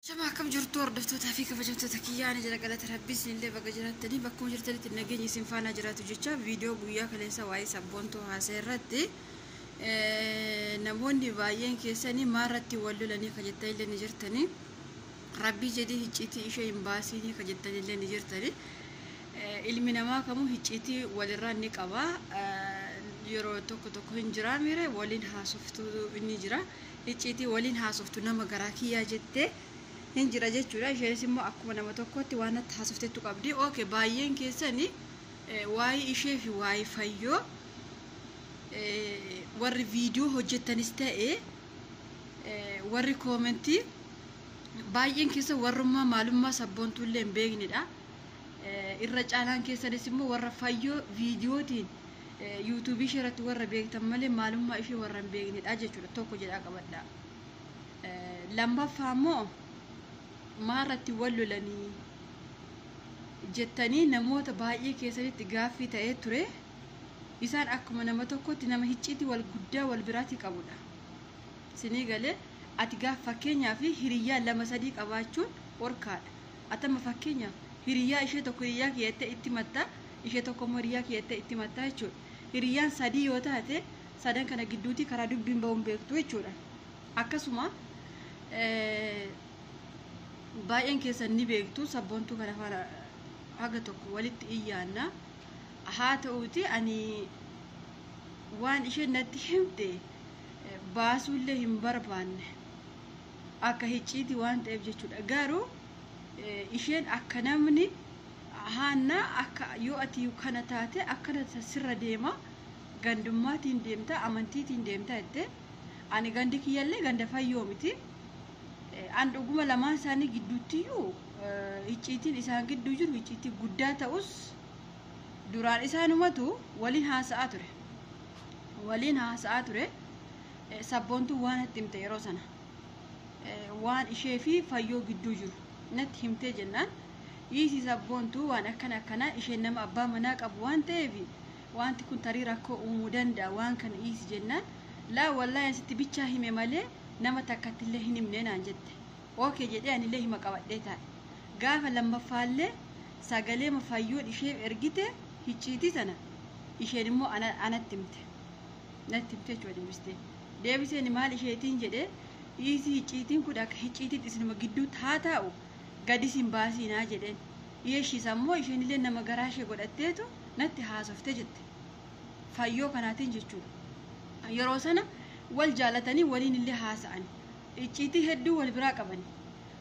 Shama akkam jirtu hordoftootaa fi kabajamtoota kiyyaa ani jira galata rabbii isinillee baga jiraattanii bakkuma jirtanitti nageenyi isin faanaa jiraatu jecha viidiyoo guyyaa kaleessa waa'ee sabboontuu haasa'e irratti namoonni baay'een keessanii maarratti wal lolanii ka jettanillee ni jirtanii rabbii jedhii hicciitii ishee hin baasiinii ka jettanillee ni jirtanii ilmi namaa kamuu hicciitii walirraa ni qaba yeroo tokko tokko hin jiraa miire waliin haasoftuu ni jira icciitii waliin haasoftu nama garaa kiyyaa jettee hin jira jechuudha isheenis immoo akkuma nama tokkotti waan natti haasofteettu qabdi ok baay'een keessani waa'ee ishee fi waa'ee fayyoo warri viidiyoo hojjettanis ta'e warri koomentii baay'een keessa warrummaa maalummaa sabboontuullee hin beeknedha irra caalaan keessanis immoo warra fayyoo viidiyootiin yuutuubii ishee irratti warra beektan malee maalummaa ishee warra hin beeknedha jechuudha tokko jedhaa qabadha. Lammaffaa immoo maa irratti wal lolanii jettanii namoota baay'ee keessanitti gaaffii ta'ee ture isaan akkuma nama tokkotti nama hicciitii wal guddaa wal biraatti qabudha. Sinii galee ati gaaf fakkeenyaa fi hiriyyaa lama sadii qabaachuun orkaadha. Atama fakkeenyaaf hiriyyaa ishee tokko hiriyyaa kiyyattee itti matta ishee tokko immoo hiriyyaa kiyya jettee itti himattaa jechuudha. Hiriyyaan sadii yoo taate sadan kana gidduutii karaa dubbiin ba'u hin beektu jechuudha. Akkasuma baay'een keessan ni beektu sabboontuu kana faana haga tokko walitti iyyaanna. Haa ta'uuti ani waan isheen natti himte baasuullee hin barbaanne akka hicciiti waan ta'eef jechuudha. Garuu isheen akka namni haannaa akka yoo ati kana taate akkana sirra deema gandummaatiin deemta amantiitiin deemta jettee ani gandi kiyyallee ganda fayyoo miti an dhuguma lamaan isaanii gidduuttiyyuu icciitiin isaan gidduu jiru icciitii guddaa ta'us duraan isaanumatu waliin haasa'aa ture waliin haasa'aa ture sabboontuu waan itti himte yeroo sana. waan ishee fi fayyoo gidduu jiru natti himtee jennaan dhiisii sabboontuu waan akkana akkanaa isheen nama abbaa manaa qabu waan ta'eef wanti kun tarii rakkoo uumuu danda'a waan kana dhiisi jennaan laa wallaahi asitti bichaa hime malee nama takkatti illee hin himne naan jette ookee jedhee anillee hima qabadhee taa'e gaafa lammaffaallee sagalee fayyoon ishee ergite hicciitii sana isheen immoo anatti himte natti himte jechuudha deebistee. Deebiseeni maal isheetiin jedhe, Dhiisii hicciitiin kun akka hicciitiitti isinuma gidduutti haa taa'u, gad isin baasiinaa jedheen. Yeshiis ammoo isheenillee nama garaa ishee godhatteetu natti haasofte jette. Fayyoo kanaatiin jechuudha. Yeroo sana wal jaalatanii waliinillee haasa'ani. Icciitii hedduu wal biraa qabani.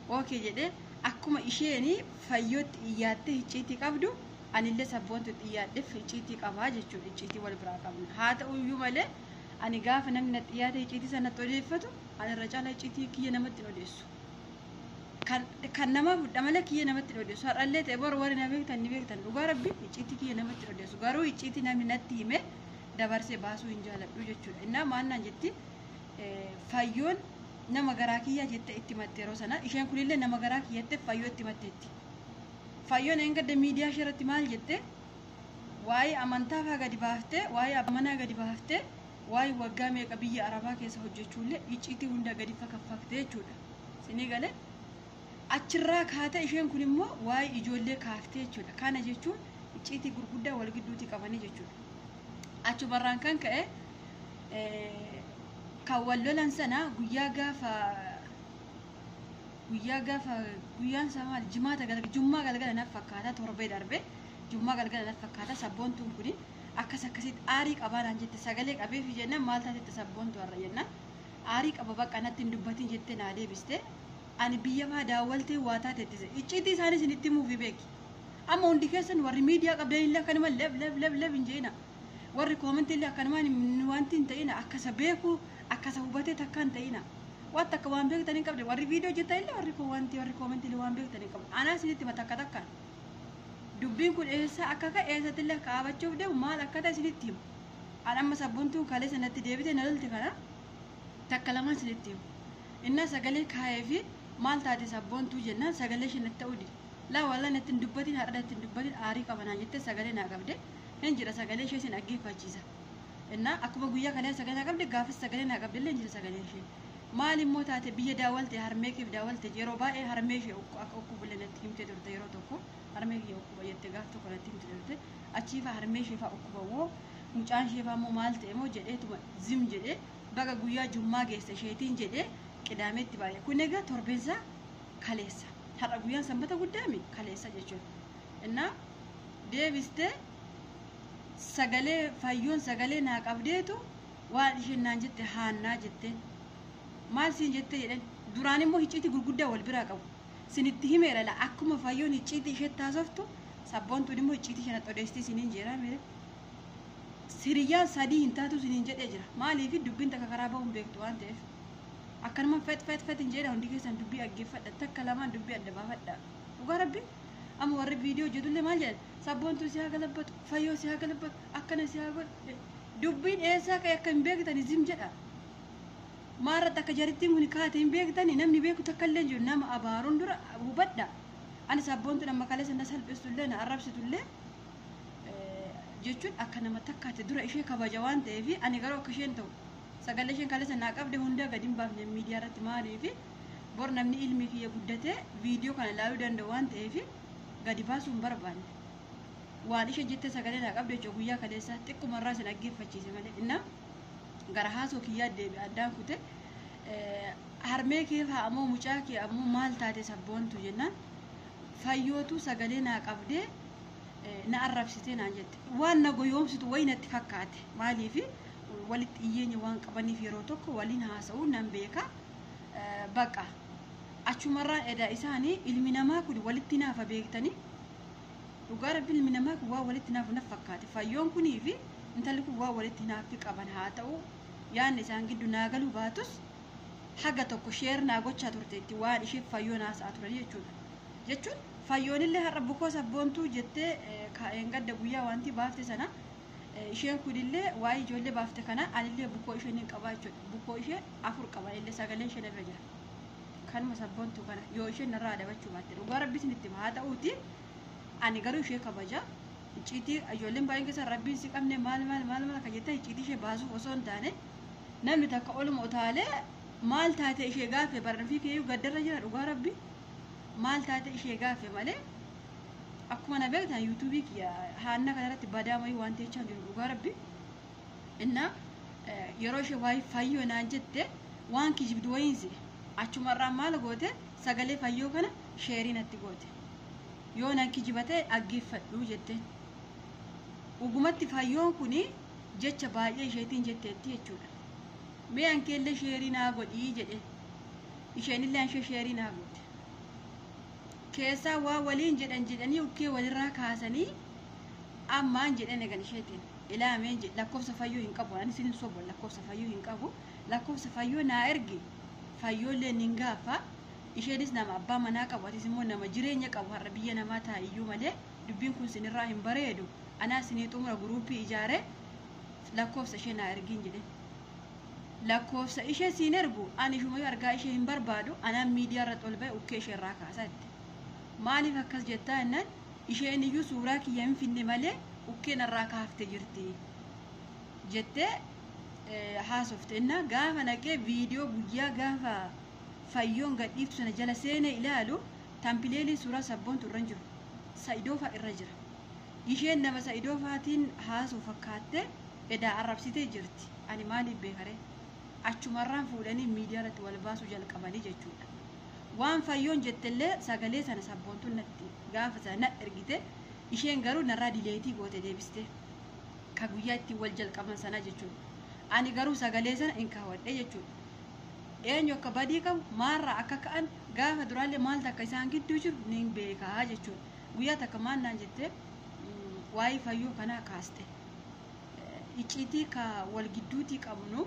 Ookee jedhee akkuma isheeni fayyootti iyyaattee hicciitii qabdu anillee sabboontutti iyyaadheef hicciitii qabaa jechuudha. Icciitii wal biraa qabna. Haa ta'uyyuu malee Ani gaafa namni natti dhiyaatee icciitii isaa natti odeeffatu ani irra caalaa icciitii kiyya namatti hin odeessu. Kan, kan namaa fudha malee kiyya namatti hin odeessu. Har'allee ta'e bor warri na beektan ni beektan. Dhugaa rabbi icciitii kiyya namatti hin odeessu. Garuu icciitii namni natti hime dabarsee baasuu hin jaaladhu jechuudha. Innaa maannaan jetti eh, fayyoon nama garaa kiyyaa jettee itti matte yeroo sana. Isheen kunillee nama garaa kiyyattee fayyoo itti matteetti. Fayyoon eengadda miidiyaa ishee irratti maal jette? waa'ee amantaa faa gadi baaftee waa'ee abbaa manaa gadi baaftee waa'ee waggaa meeqa biyya arabaa keessa hojjechuullee icciitii hunda gadi fakaffaktee jechuudha sinii galee achirraa kaatee isheen kun immoo waa'ee ijoollee kaaftee jechuudha kana jechuun icciitii gurguddaa wal gidduutii qabanii jechuudha achumarraan kan ka'e eh, kan wal lolan sana guyyaa gaafa guyyaa gaafa guyyaan isaa maal jimaata galgala jummaa galgala naf fakkaataa torbee darbee Jummaa galgala natti fakkaata sabboontuun kuni akkas akkasitti aarii qabaa naan jette sagalee qabeefi jennaan maal taatetta sabboontu har'a jennaan aarii qaba bakka natti hin dubbatiin jette naa deebiste ani biyya maa daawwaltee waa taatetti icciitii isaanii isinitti himuufi beeki amma hundi keessan warri miidiyaa qabdan illee akkanuma leb leb leb leb hin je'ina warri koomentii illee akkanuma wanti hin ta'ina akkasa beeku akkasa hubatee takka hin ta'ina waan takka waan beektan hin qabde warri viidiyoo jettan illee warri koo wanti warri koomentii illee waan beektan hin qabne anaa isinitti hima takka takkaan Dubbiin kun eessaa akka ka'e eessattillee akka dhaabachuuf deemu maal akka ta'e isinitti hima. An amma sabbontuun kaleessa natti deebite na lolte kana takka lamaan isinitti hima. Innaa sagalee kaayee fi maal taate sabboontuu jennaan sagalee ishee natti ta'uu dide. Laa wallaa natti hin dubbatin har'a natti hin dubbatin aarii qaba naan jettee sagalee naa qabde. Hin jira sagalee ishee isin dhaggeeffachiisa. Innaa akkuma guyyaa kalee sagalee naa qabde gaafis sagalee naa qabde illee hin jiru sagaleen ishee. Maal immoo taate biyya daawwalte harmee keef daawwalte yeroo baay'ee harmee ishee ukku- akka ukkubu illee natti himtee turte yeroo tokko harmee kiyya ukkuba jette gaaf tokko natti himte turte achii faa harmee ishee faa ukkuba moo mucaan ishee faa immoo maal ta'e moo jedheetuma zim jedhee baga guyyaa jummaa geesse isheetiin jedhee qidaameetti baay'ee kun egaa torbeensaa kaleessa har'a guyyaan sanbata guddaami kaleessa jechuudha innaa deebistee sagalee fayyoon sagalee naa qabdeetu waan isheen naan jette haannaa jetteen maal siin jettee jedhan duraan immoo hicciitii gurguddaa wal biraa qabu sinitti himeera la akkuma fayyoon hicciitii isheetti haasoftu sabboontuun immoo hicciitii isheetti odeessitee siniin jeeraa meera siriyyaan sadii hin taatu siniin jedhee jira maaliif dubbiin takka karaa ba'uun beektu waan ta'eef akkanuma fet fet fet hin jedha hundi keessan dubbii dhaggeeffadha takka lamaan dubbii adda baafadha dhugaa rabbi amma warri viidiyoo hojjetullee maal jedhan sabboontuu si haa galabbatu fayyoo si haa galabbatu akkana si haa godhu dubbiin eessaa ka'e akka hin beektan isin jedha maarratti akka jarittiin kun kaate hin beektani namni beeku takka illee jiru nama abaaruun dura hubadha ani sabboontuun amma kaleessa na salphistu illee na arrabsitu illee jechuun akka nama takkaatti dura ishee kabaja waan ta'eef ani garuu akka isheen ta'u sagalee isheen kaleessa naa qabde hundaa gadi hin baafne miidiyaa irratti maaliif bor namni ilmi kiyya guddatee viidiyoo kana ilaaluu danda'u waan ta'eef gadi baasuu hin barbaanne. Waan ishe jette sagalee naa qabde jechuudha guyyaa kaleessa xiqquma irraa si dhaggeeffachiise malee innaa gara haasoo kiyyaa deebi addaan kute harmee kee faa ammoo mucaa kee ammoo maal taate sabboontu jennaan fayyootu sagalee naa qabdee na arrabsitee naan jette waan na goyoomsitu wayi natti fakkaate maaliifi walitti dhiyyeenya waan qabaniif yeroo tokko waliin haasa'uu nan beeka. baqa achumarraan edaa isaanii ilmi namaa kun walitti naafa beektanii dhugaa rabbi ilmi namaa kun waa walitti naafu naf fakkaate fayyoon kunii fi intalli kun waa walitti naaffi qaban haa ta'u yaanni isaan giddu naa galuu baatus haga tokko sheer naa gochaa turteetti waan isheef fayyoon haasa'aa turan jechuudha jechuun fayyoonillee har'a bukoo sabboontuu jettee kaa'een gadda guyyaa wanti baafte sana Isheen kunillee waa'ee ijoollee baafte kana anillee bukoo ishee nin qabaa jechuudha. Bukoo ishee afur qaba anillee sagaleen isheen irra jira. Kanuma sabboontuu kana yoo isheen narraa adabachuu baatte dhugaa rabbi isinitti hima haa ta'uuti ani garuu ishee kabaja. Icciitii ijoolleen baay'een keessa rabbiin si qabne maal maal maal maal akka jettan icciitii ishee baasuuf osoo hin taane namni takka oluma utaalee maal taate ishee gaafe barnafii keeyyuu gaddarra jira dhugaa rabbi maal taate ishee gaafe malee akkuma na beektan yuutuubii kiyya haanna kanarratti badaa wayii waan teechaa jiru dhugaa rabbi inna yeroo ishee waayii fayyoo naan jette waan kijibdu wayiin si achumarraa maal goote sagalee fayyoo kana sheerii natti goote yoo nan kijiba ta'e dhaggeeffadhu jette dhugumatti fayyoon kun jecha baay'ee isheetiin jetteetti jechuudha mee ankeellee sheerii naa godhii jedhe isheenillee anshee sheerii naa goote keessaa waa waliin jedhan jedhanii ukkee walirraa kaasanii ammaan jedhan egan isheetiin ilaameen jedhe lakkoofsa fayyoo hin qabu ani isin hin sobu lakkoofsa fayyoo hin qabu lakkoofsa fayyoo naa ergi fayyoollee nin gaaffa isheenis nama abbaa manaa qabu atis immoo nama jireenya qabu har'a biyya namaa taa'iyyuu malee dubbiin kun sinirraa hin bareedu anaa sinii xumura guruupii ijaare lakkoofsa ishee naa ergiin jedhe Lakkoofsa ishee siin ergu an ishumayu argaa ishee hin barbaadu anaan miidiyaa irratti ol ba'e ukkee ishee irraa kaasa jette. Maaliif akkas jettaa jennaan isheen iyyuu suuraa kiyya hin finne malee ukkee narraa kaafte jirti jettee haasofte innaa gaafa naqee viidiyoo guyyaa gaafa fayyoon gadhiiftu sana jala seenee ilaalu tampileeliin suuraa sabboontu irra hin jiru sa'idoofaa irra jira isheen nama sa'idoofaatiin haasoo fakkaattee edaa arrabsitee jirti. Ani maaliif beekaree? Achumarraan fuudhanii miidiyaarratti walbaasuu jalqabanii jechuudha. Waan Fayyoon jettellee sagalee sana sabboontun natti gaafa sana na ergite isheen garuu narraa dileetii goote deebistee. Ka guyyaa ittiin wal jalqaban sanaa jechuudha. Ani garuu sagalee sana hin kaawwadhee jechuudha. Eenyu akka badii qabu maalraa akka ka'an gaafa duraallee maaltu akka isaan gidduu jiru nin beekaa jechuudha. Guyyaa takka maal naan jettee waa'ee Fayyoo kanaa kaaste. icciitii ka wal gidduutii qabnu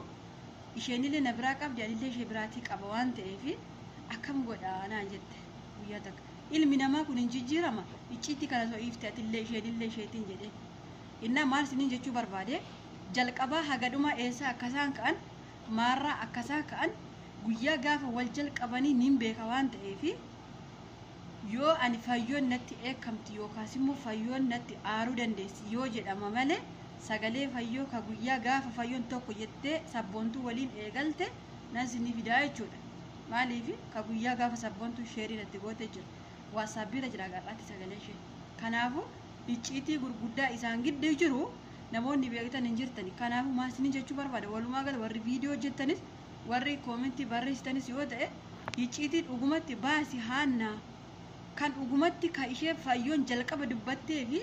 isheenillee na biraa qabdi anillee ishee biraatii qaba waan ta'eef akkam godha naan jette guyyaa takka ilmi namaa kun hin jijjiirama icciitii kana soo iifte atillee isheenillee isheetiin jedhe innaa maal isiniin jechuu barbaade jalqabaa haga dhumaa eessaa akkasaan ka'an maarraa akkasaan ka'an guyyaa gaafa wal jalqabanii niin beeka waan ta'eef Yoo ani fayyoon natti dheekkamti yookaasimmoo fayyoon natti aaruu dandeessi yoo jedhama malee sagalee fayyoo ka guyyaa gaafa fayyoon tokko jettee sabboontuu waliin eegalte nan sinii fidaa jechuudha maaliifi ka guyyaa gaafa sabboontuu sheerii natti gootee jira waatsaappiirra jira gar'aatti sagalee ishee kanaafu icciitii gurguddaa isaan gidduu jiru namoonni beektan hin jirtani kanaafu maal sinii jechuu barbaada walumaa gala warri viidiyoo hojjettanis Warri koomentii barreessitanis yoo ta'e hicciitii dhugumatti baasi haannaa kan dhugumatti ka ishee fayyoon jalqaba dubbattee fi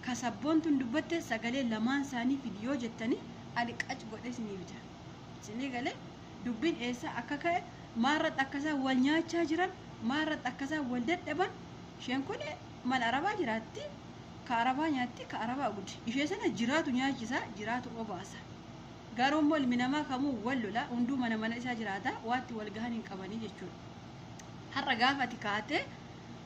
ka sabboontuun dubbatte sagalee lamaan isaanii fidi yoo jettanii ani qac godhee isiniif jira isinii galee dubbiin eessaa akka ka'e maarratti akka isaan wal nyaachaa jiran maarratti akka isaan wal dadhaban isheen kun mana arabaa jiraatti ka arabaa nyaatti ka arabaa gud ishee sana jiraatu nyaachisaa jiraatu obaasa Garuu immoo ilmi namaa kamuu wal lola, hunduu mana mana isaa jiraata, waatti wal gahan hin qabanii jechuudha. Har'a gaafa ati kaatee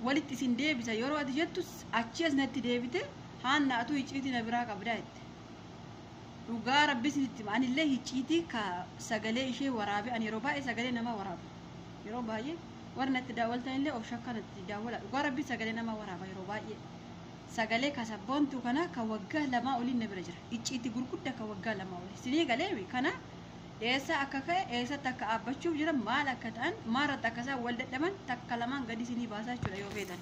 walitti isin deebisa yeroo ati jettus achii as natti deebite haanna atuu hicciitii na biraa qabdaa jette. Dhugaa rabbi isinitti hima anillee hicciitii ka sagalee ishee waraabe ani yeroo baay'ee sagalee namaa waraaba. Yeroo baay'ee warri natti daawwaltanillee of shakka natti daawwala. Dhugaa rabbi sagalee namaa waraaba yeroo baay'ee. Sagalee ka sabboontuu kana ka waggaa lamaa oliin na bira jira. icciitti gurgudda ka waggaa lama oli sinii galeemi kana eessaa akka ka'e eessatti akka dhaabbachuuf jiran maal akka ta'an maarratti akka isaan wal dadhaban takka lamaan gadi sinii baasaa jechuudha yoo feetan.